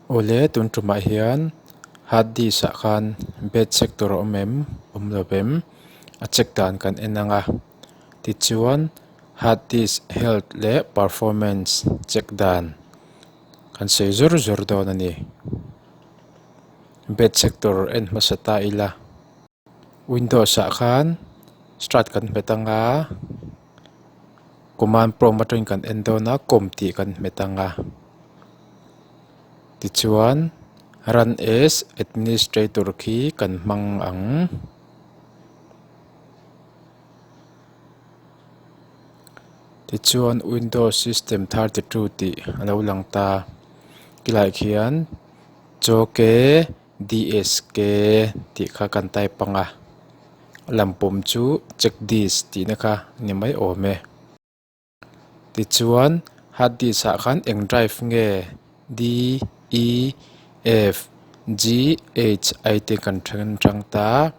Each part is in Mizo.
Awle tun ṭumah hian hard disk ah khan bed check tur a awm em awm lo em a check dan kan en ang a tichuan hard disk health leh performance check dan kan sawi zawr zawr dawn a ni bed check tur en hmasa ta ila-- Windows-ah khan start kan hmet ang a, command prompt atangin kan en dawn a, com tih kan hmet ang a, tichuan run as administrator khi kan hmang ang. Tichuan windows system thar ti two tih a lo lang ta, khilaiah khian chawke. DSK tih kha kan type anga lam pawm chu check this tih na kha ni mai awm e tichuan hard disk ah khan eng drive nge D E F G H I te kan then tang ta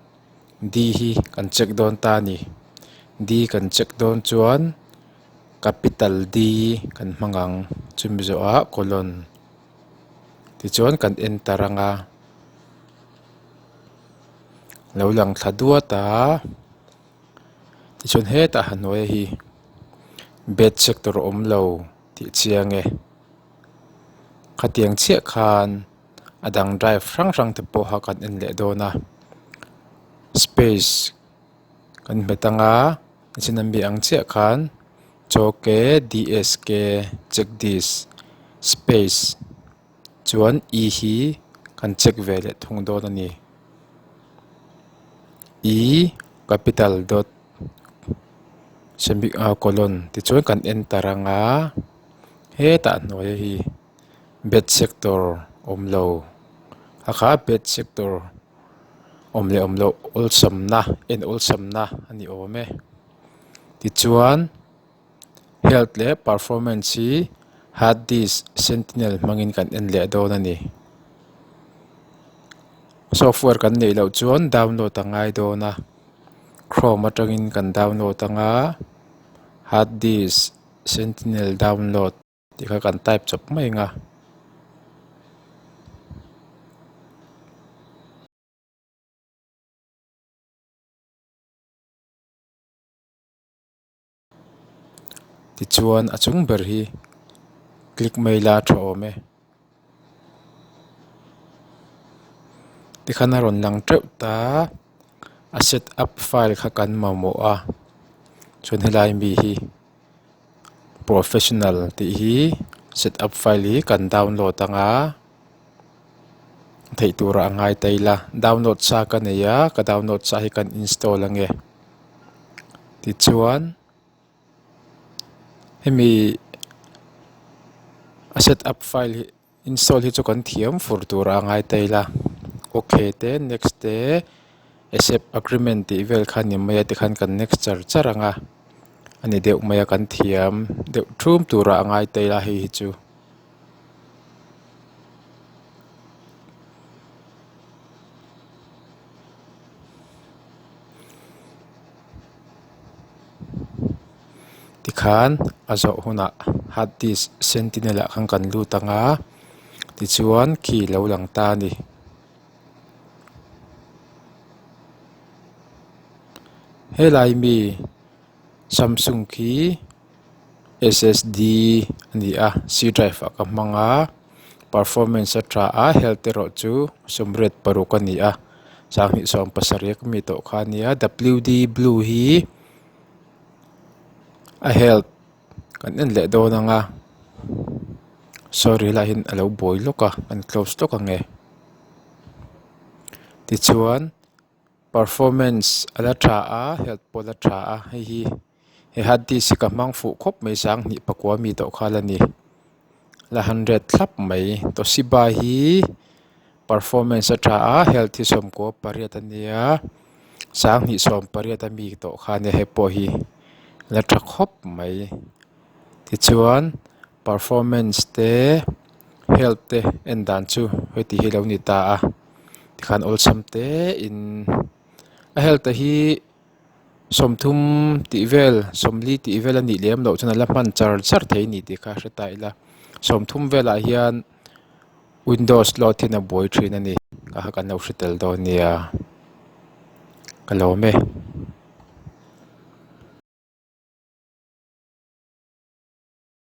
D hi kan check dawn ta a ni D kan check dawn chuan capital D kan hmang ang chu mizo ah colon. tichuan kan en ta rang a lo lang thla duat a tichuan hetah hnuaia hi bed sector a awm lo tih chiang e khatiang chiah khan a dang drive hrang hrang te pawh kha kan en leh dawn a space . Kan hmet anga chin an bih ang chiah khan chawke dske chekdis space chuan i hi kan check ve leh thung dawn a ni i capital dot semi ah colon tichuan kan enter anga hetah hnuaia hi-- bet sector awm lo a kha a bet sector awm leh awm loh awlsam na en awlsam na a ni awm e tichuan health leh performance hi heart disk sentinel hmang in kan en leh dawn a ni software kan neih loh chuan download a ngai dawn a chrome atang in kan download ang a heart disk sentinel download . Tih kha kan type chawp mai anga. Tichuan a chung ber hi click mai la a tha awm e. Tikhan a rawn lang teuh ta a set up file kha kan mamawh a chuan helai mi hi professional tih hi set up file hi kan download ang a theih tur ah a ngai ta ila download sa ka nei a ka download sa hi kan install ange tichuan-- hemi a set up file hi install hi chu kan thiam fur tura a ngai ta ila ok te next te accept agreement tih vel kha ni mai a tikhan kan next char char anga a ni deuh mai a kan thiam deuh thum tura a ngai ta ila hei hi chu. Tikhan a zawh hunah hard disk sentinel ah khan kan lut anga tichuan khi lo lang ta a ni helai mi samsung khi-- ssd a ni a c drive a ka hmang a performance a ṭha a health erawh chu sum red paruk a ni a chang hnih sawm pasarih ka mi tawh kha a ni a w d blue hi a health kan en leh dawn ang a sorry lah hin a lo bawi lawk a a ni close lawk ang e tichuan performance a la ṭha a health pawh a la ṭha a hei hi. He han tih si ka hmang fuh khawp mai sang hnih pakua mi tawh kha la ni. La han ret thlap mai. Toshiba hi performance atha a health hi sawmkua pariat a nia sang hnih sawm pariat a mi tawh kha nia hei pawh hi la tha khawp mai. Tichuan performance te health te en dan chu hei tih hi lo ni ta a tikhan awlsam tein a health a hi. Sawmthum tih vel, sawmli tih vel a nih lem loh chuan a la hman char char thei ni tih kha a hre ta ila. Sawmthum velah hian Windows loadhin a buai thin a ni. Ka ha kan lo hre tel dawn nia, ka lawm e.